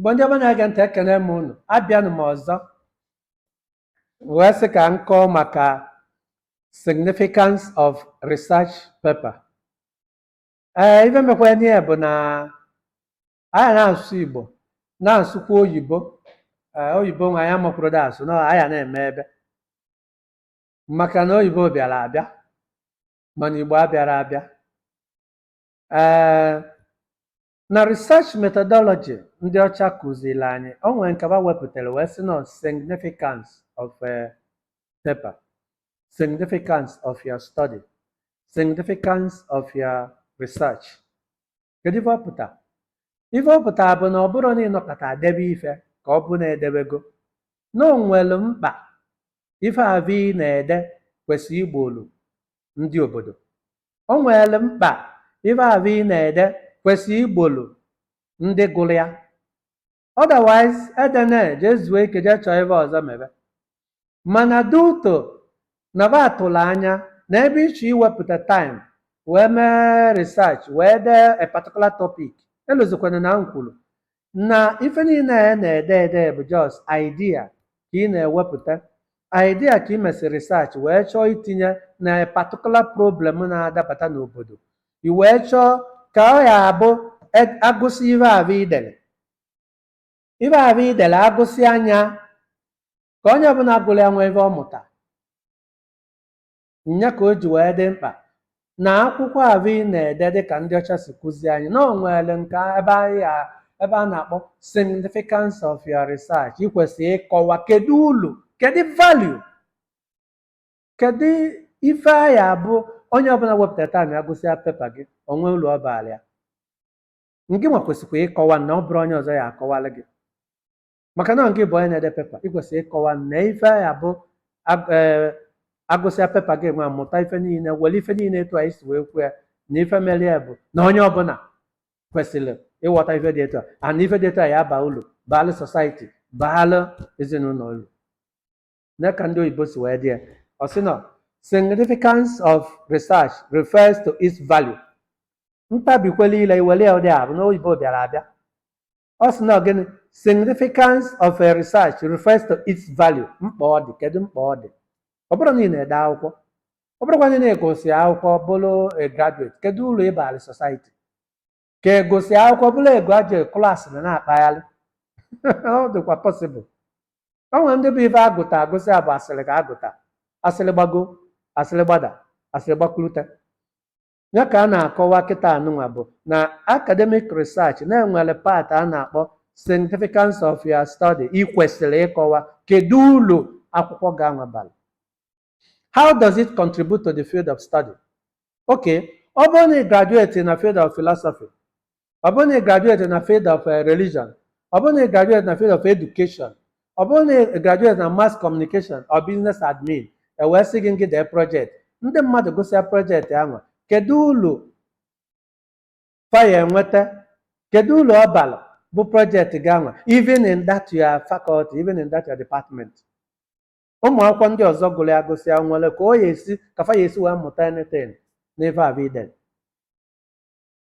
Igbo ndị ọma na-ege ntị ekene m unu abịanụ m ọzọ wee sị ka m kọọ maka significance of research paper ee ife mekwanụ ya bụ na anyị na-asụ igbo na-asụkwa oyibo ee oyibo nwa ya makwuru da asụ na anyị na-eme ebe maka na oyibo bịara abịa mana igbo abịarọ abịa ee Na research methodology ndị ọcha kụziri anyị, o nwere nke fa wepụtara wee sị na significance of a paper, significance of your study, significance of your research. Kedu ife ọ pụta? Ife ọ pụtara bụ na ọ bụrụ na ị nọkata debe ife ka ọ bụ na i debego na o nwere mkpa ife afụ ị na-ede kwesịrị igbolu ndị obodo O nwere mkpa ife ahụ ị na-ede kwesị igbolu ndị gụrụ ya. Otherwise, edene jee zuo ike jee chọọ ife ọzọ mebe. Mana due to na fa tụrụ anya na ebe ị chọ iwepụta time wee mee research wee dee a particular topic, elozikwana na m kwuru na ife niile a na-ede ede bụ just idea ka ị na-ewepụta idea ka ị mesịrị research wee chọọ itinye na particular problem na-adapụta n'obodo i wee chọọ ka ọ ya-abụ e- agụsịa ife ahụ i dere ife ahụ i dere agụsịa nya ka onye ọbụla gụrụ ya nwee ife ọ mụta Nya ka o ji wee dị mkpa na akwụkwọ afụ ị na-ede dị ka ndị ọcha si kụzie anyị na o nwere nke ebe a na-akpọ significance of your research ị kwesịrị ịkọwa kedu ulu kedu value kedu ife ya-abụ onye ọbụla wepụta time ya gụsịa pepa gị o nwee ulu ọ baara ya ngị nwa kwesịkwa ịkọwa na ọ bụrọ onye ọzọ ya-akọwara gị maka na ngị bụ onye na-ede pepa ị kwesịrị ịkọwa na ife ya-abụ ag- ee, agụsịa pepa gị nwa mụta ife niile were ife niile etu anyị si wee kwuo ya na ife mere ya bụ na onye ọbụla kwesịrị ịghọta ife dị etu a ana ife dị etu a ya-aba ulu baalụ society baalụ ezinụlọ ulu nee ka ndị oyibo si wee dee ya ọ sị na significance of research refers to its value m tabikwa ile i were ya ụdị afụ na oyibo bịara abịa ọ sị na gịnị significance of a research refers to its value mkpa ọ dị kedu mkpa ọ dị ọ bụrụ na ị na-ede akwụkwọ ọ bụrụkwa na ị gụsị akwụkwọ bụrụ a graduate kedu ulu ị bara society ka ị gụsị akwụkwọ bụrụ a graduate klaasị na na-akpagharị ọ dịkwa possible o nwere ndị bụ ife agụta agụsịa bụ asịrị ka a gụta asịrị gbago asịrị gbada asịrị gbakulute nya ka a na-akọwa kịta anụnwa bụ na academic research na-enwere part a na-akpọ significance of your study ị kwesịrị ịkọwa kedu ulu akwụkwọ gị anwa bara how does it contribute to the field of study okay ọ bụrụ na ị graduate na field of philosophy ọ bụrụ na ị graduate na field of eh, religion ọ bụrụ na ị graduate na field of education ọ bụrụ na ị graduate na mass communication or business admin e wee sị gị ngị dee project ndị mmadụ gụsịa project ahụ kedu ulu fa ya enweta kedu ulu ọ bara bụ project gị ahụ even in that your faculty even in that your department ụmụ akwụkwọ ndị ọzọ gụrụ ya gụsịa nwere ka ọ ya esi ka fa ya esi wee mụta anything n'ife afụ i de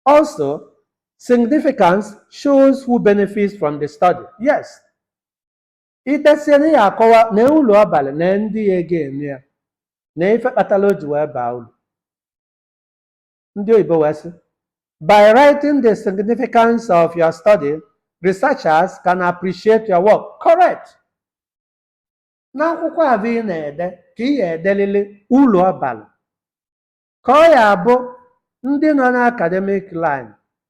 Also, significance shows who benefits from the study. Yes. I tesiri ya akọwa na ulu ọ bara na ndị ya ga-eme ya na ife kpatara o ji wee baa ulu. Ndị oyibo wee sị, By writing the significance of your study, researchers can appreciate your work. Correct. N'akwụkwọ afụ ị na-ede ka ị ya edelili ulu ọ bara ka ọ ya abụ ndị nọ na academic line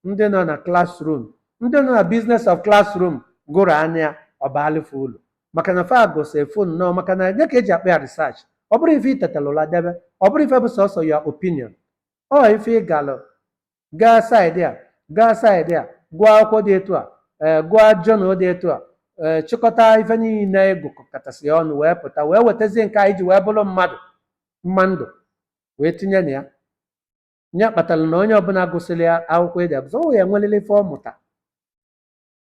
ndị nọ na classroom ndị nọ na business of classroom gụrụ nya ọ baalụ fa ulu maka na fa gụsị efu nnọọ maka na nya ka e ji akpọ ya research ọ bụrọ ife i tetalụ ụla debe ọ bụrọ ife bụ sọsọ your opinion ọ ife ị galụ gaa saịdị a gaa saịdị a gụọ akwụkwọ dị etu a ee gụọ jọnal dị etu a ee chịkọta ife niile ị gụkọtasị ọnụ wee pụta wee wetazie nke anyị ji wee bụrụ mmadụ mma ndụ wee tinye na ya nya kpatara na onye ọbụla gụsịrị akwụkwọ i de agụsị ọ ya enwerịrị ife ọ mụta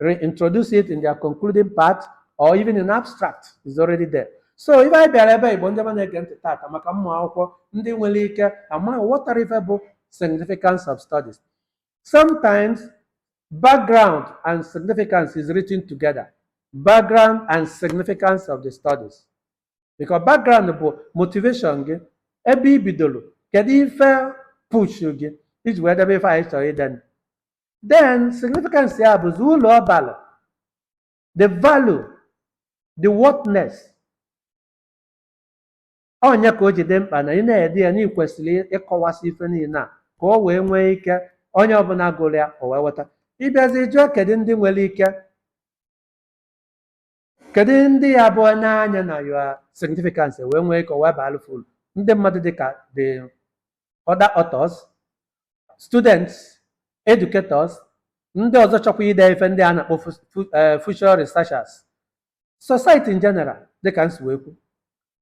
reintroduce it in their concluding part or even in abstract is already there so ife anyị bịara ebe ịgwa ndị ma na-ege ntị tata maka ụmụ akwụkwọ ndị nwere ike ama ghọtara ife bụ significance of studies sometimes background and significance is written together background and significance of the studies because background bụ motivation gị ebe i bidoro kedu ife push gị i ji wee debe ife anwa ị chọrọ ide then significance ya bụzi ulu ọ balụ the value the worthness onye ka o ji dị mkpa na ị na-ede ya na ị kwesịrị ịkọwasị ife niile a ka o wee nwee ike onye ọbụla gụrụ ya o wee ghọta ị bịazi jụọ kedu ndị nwere ike Kedu ndị ị ya-ebu n'anya na your significance wee nwee ike o wee baalụ fa ulu ndị mmadụ dị ka the other authors, students, educators, ndị ọzọ chọkwa ide ife ndị a na-akpọ future researchers, society in general dị ka m si wee kwu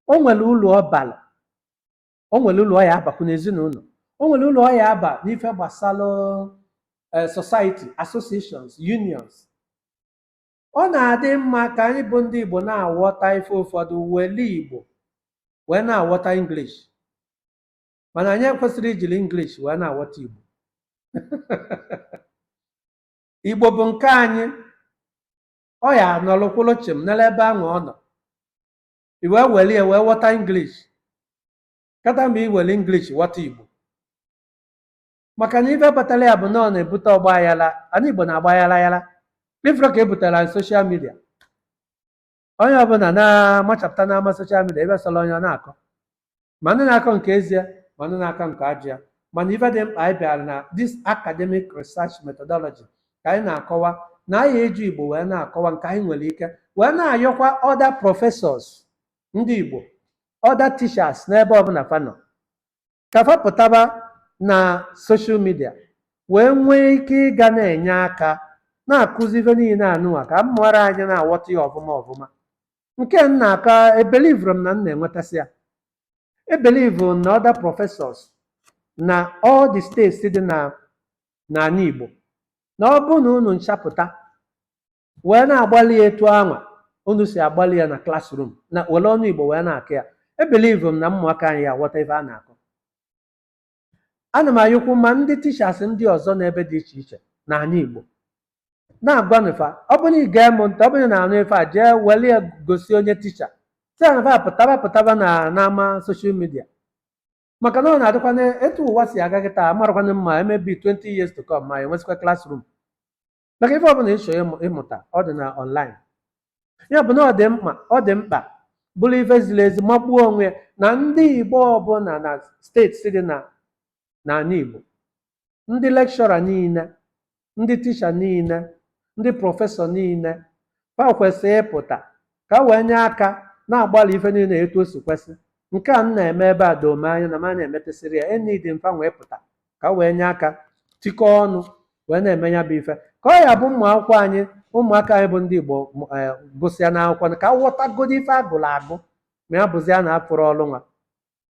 o nwere ulu ọ balụ o nwere ulu ọ ya-abakwu n'ezinụlọ o nwere ulu ọ ya-aba n'ife gbasara society, associations, unions Ọ na-adị mma ka anyị bụ ndị Igbo na-aghọta ife ụfọdụ were Igbo wee na-aghọta English mana anyị ekwesịrọ ijiri English wee na-aghọta Igbo Igbo bụ nke anyị ọ ya-anọrọ kwụrụ chịm nọrọ ebe ahụ ọ nọ i wee were ya wee ghọta English kata mgbe i were English ghọta Igbo maka na ife kpatara ya bụ na ọ na-ebute ọgbaghara ana igbo na-agba aghara aghara ị fụrọ ka e butara na social media onye ọbụla na-amachapụta n'ama social media ebe sọrọ onye ọ na-akọ ma ndị na-akọ nke ezi ya ma ndị na-akọ nke ajọ ya mana ife dị mkpa anyị bịara na this academic research methodology ka anyị na-akọwa na anyị eji igbo wee na-akọwa nke anyị nwere ike wee na-ayọkwa other professors ndị igbo other teachers n'ebe ọbụla fa nọ ka fa pụtaba na social media wee nwee ike ịga na-enye aka na-akụzi ife niile anụnwa ka ụmụaka anyị na-aghọta ya ọfụma ọfụma nke m na-akọ ebelivụrọ m na m na-enwetasị ya ebelivụ m na other professors na all the states dị na ana Igbo na ọ bụrụ na unu ncha pụta wee na-agbalị ya etu anwa unu si agbalị ya na classroom na were ọnụ igbo wee na-akọ ya ebelivu m na ụmụaka anyị aghọta ife a na-akọ ana m ayọkwu ma ndị teachers ndị ọzọ n'ebe dị iche iche n'ana igbo na-agwanụ fa ọ bụrụ ị na-ege m ntị ọ bụrụ na a nụ ife a jee were ya gosi onye ticha sịanụ fa pụtaba pụtaba na n'ama social media maka na ọ na-adịkwana etu ụwa si aga kịta amarakwana ma maybe 20 years to come ma e nwezikwa classroom maka ife ọbụla ị chọ ịmụ- ịmụta ọ dị na online ya bụ na ọ dị mkpa ọ dị mkpa bụrụ ife ziri ezi magbuo onwe ya na ndị igbo ọbụla na states dị na ana igbo ndị lecturer niile ndị teacher niile ndị professor niile fa kwesịrị ịpụta ka e wee nye aka na-agbalị ife niile etu o si kwesị nke a m na-eme ebe edorọ m anya na m na-emetasịrị ya enidi m fa wee pụta ka wee nye aka tikọọ ọnụ wee na-eme ya bụ ife ka ọ ya-abụ ụmụ akwụkwọ anyị ụmụaka anyị bụ ndị Igbo gụsịa akwụkwọ fa aghọtagodo ife agụrụ agụ ma ya bụzia na afụrọ ọrụ nwa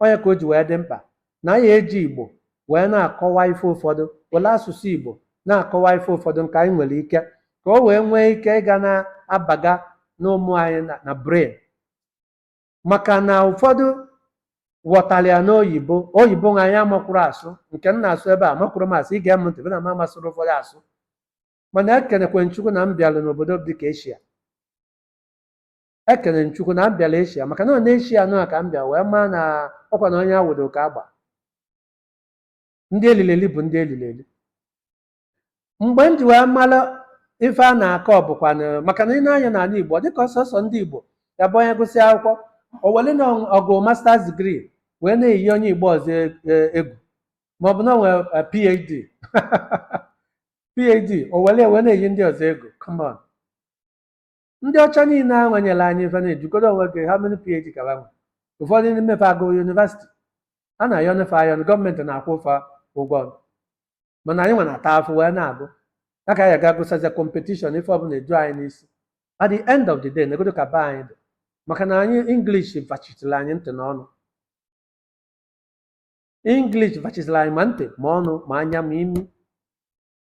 ọ nya ka o ji wee dị mkpa na anyị eji Igbo wee na-akọwa ife ụfọdụ were asụsụ Igbo na-akọwa ife ụfọdụ nke anyị nwere ike ka o wee nwee ike ịga na-abaga n'ụmụ anyị na brain maka na ụfọdụ ghọtara ya n'oyibo oyibo nwa anyị amakwurọ asụ nke m na-asụ ebe a amakwurọ m asụ i gee m ntị na m amasịrọ ụfọdụ asụ mana ekenekwa m chukwu na m bịara n'obodo dị ka eshia ekene m chukwu na m bịara eshia maka na ọ n'eshia nọ ka m bịa wee maa na ọkwa na onye awụdo ka agba ndị elili eli bụ ndị elili eli mgbe m ji wee mara ife a na-akọ bụkwanụ maka na ị ma na anyị n'ala Igbo dịka ọ sọsọ ndị Igbo ya bụ onye gụsịa akwụkwọ o were na ọ gụ masters degree wee na-eyi onye Igbo ọzọ e- e- egwu maọbụ na o nwere eh, PhD PhD o were ya wee na-eyi ndị ọzọ egwu come on ndị ọcha niile ahụ nyere anyị ife na-ejikọrọ onwe gị how many phd ka ha nwe ụfọdụ n'ime fa agụrọ yunivasiti a na-ayọnụ fa ayọ gọọmenti na-akwụ fa ụgwọ ọrụ mana anyị nwe na-ata afụfụ wee na-agụ ya ka anyị ga gụsịzịa kọmpetishọn ife ọbụla eju anyị n'isi at the end of the day negodo ka be anyị dị maka na anyị english vachitiri anyị ntị na ọnụ english vachitiri anyị ma ntị ma ọnụ ma anya ma imi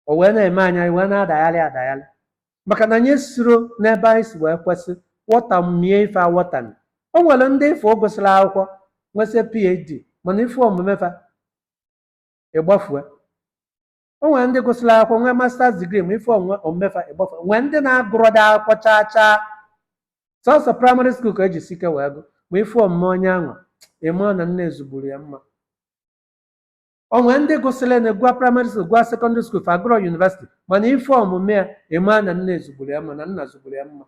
o wee na-eme anyị anyị wee na-adagharị adagharị maka na anyị esiro n'ebe anyị si wee kwesị wọtamie ife awọtami o nwere ndị ị fụ gụsịrị akwụkwọ nwesịa phd mana ị fụ omume fa ị gbafue o nwere ndị gụsịrị akwụkwọ nwee masters degree ma ị fụ omume fa ị gbafue nwee ndị na-agụrọda akwụkwọ chaa chaa sọsọ praịmarị skuul ka e jisi ike wee gụ ma ị fụ omume onye anwa ị ma na nne zụgburu ya mma o nwere ndị gụsịrị na gụọ praịmarị skul gụọ sekọndịrị skul fa agụrọ yunivesiti mana ị fụ omume ya ị ma na nne zụgburu ya mma na nna zụgburu ya mma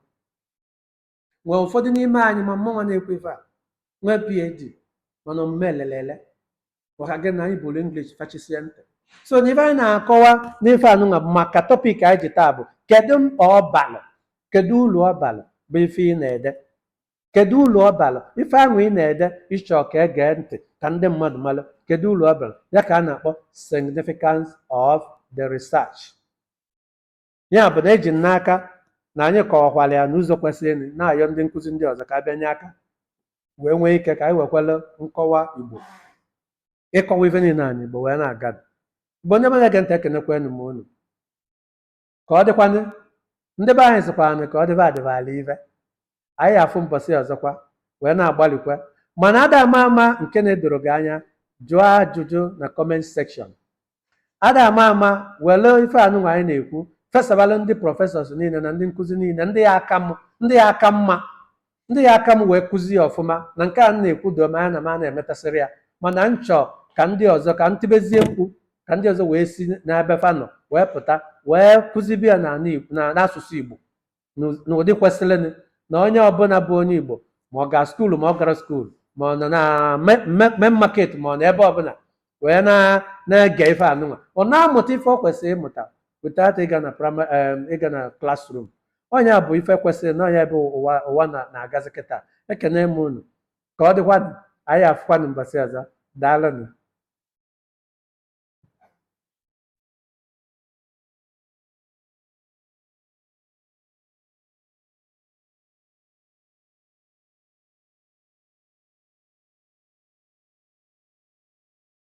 nwee ụfọdụ n'ime anyị ma mụnwa na-ekwu ife a nwee PhD mana omume elelele maka gịnị anyị buru English fachisie ntị so na ife anyị na-akọwa n'ife anụnwa bụ maka tọpik anyị ji taa bụ kedu mkpa ọ balụ kedu uru ọ balụ bụ ife ị na-ede Kedụ uru ọ bara? Ife ahụ ị na-ede ị chọ ka e gee ntị ka ndị mmadụ mara, kedụ uru ọ bara? Ya ka a na-akpọ significance of the research. Ya bụ na eji m n'aka na anyị kọwakwara ya n'ụzọ kwesịrịnụ, na-ayọ ndị nkụzi ndị ọzọ ka a bịa nye aka wee nwee ike ka anyị wekwara nkọwa Igbo ịkọwa ife niile anyị Igbo wee na-aga. Igbo ndị ọma na-ege ntị ekenekwanụ m unu. ka ọ dịkwanụ ndị be anyị sịkwanụ ka ọ dịba adịba alive anyị afụ mbọsị ọzọkwa wee na-agbalịkwa mana ada ama ama nke na-edoro gị anya jụọ ajụjụ na comment section ada ama ama were ife anụnwa anyị na-ekwu fesabalụ ndị professors niile na ndị nkụzi niile ndị ya aka m ndị ya aka mma Ndị ya aka m wee kụzi ya ọfụma na nke a m na-ekwu doo m anya na m na-emetasịrị ya mana m chọọ ka ndị ọzọ ka m tibezie mkpu ka ndị ọzọ wee si n'ebe fa nọ wee pụta wee kụzibe ya n'ala Igbo- na- n'asụsụ Igbo n'ụ- n'ụdị kwesịrịnụ na onye ọbụla bụ onye Igbo ma ọ gara school ma ọ garọ school ma ọ nọ na me- me- main market ma ọ nọ ebe ọbụla wee na- na-ege ife anụnwa ọ na-amụta ife ọ kwesịrị ịmụta without ịga na prima- em, ịga na classroom ọ nya bụ ife kwesịrị na ọ nya bụ ebe ụwa na- na-agazi kịta ekene m unu ka ọ dịkwanụ anyị afụkwanụ mbọsị ọzọ daalụnụ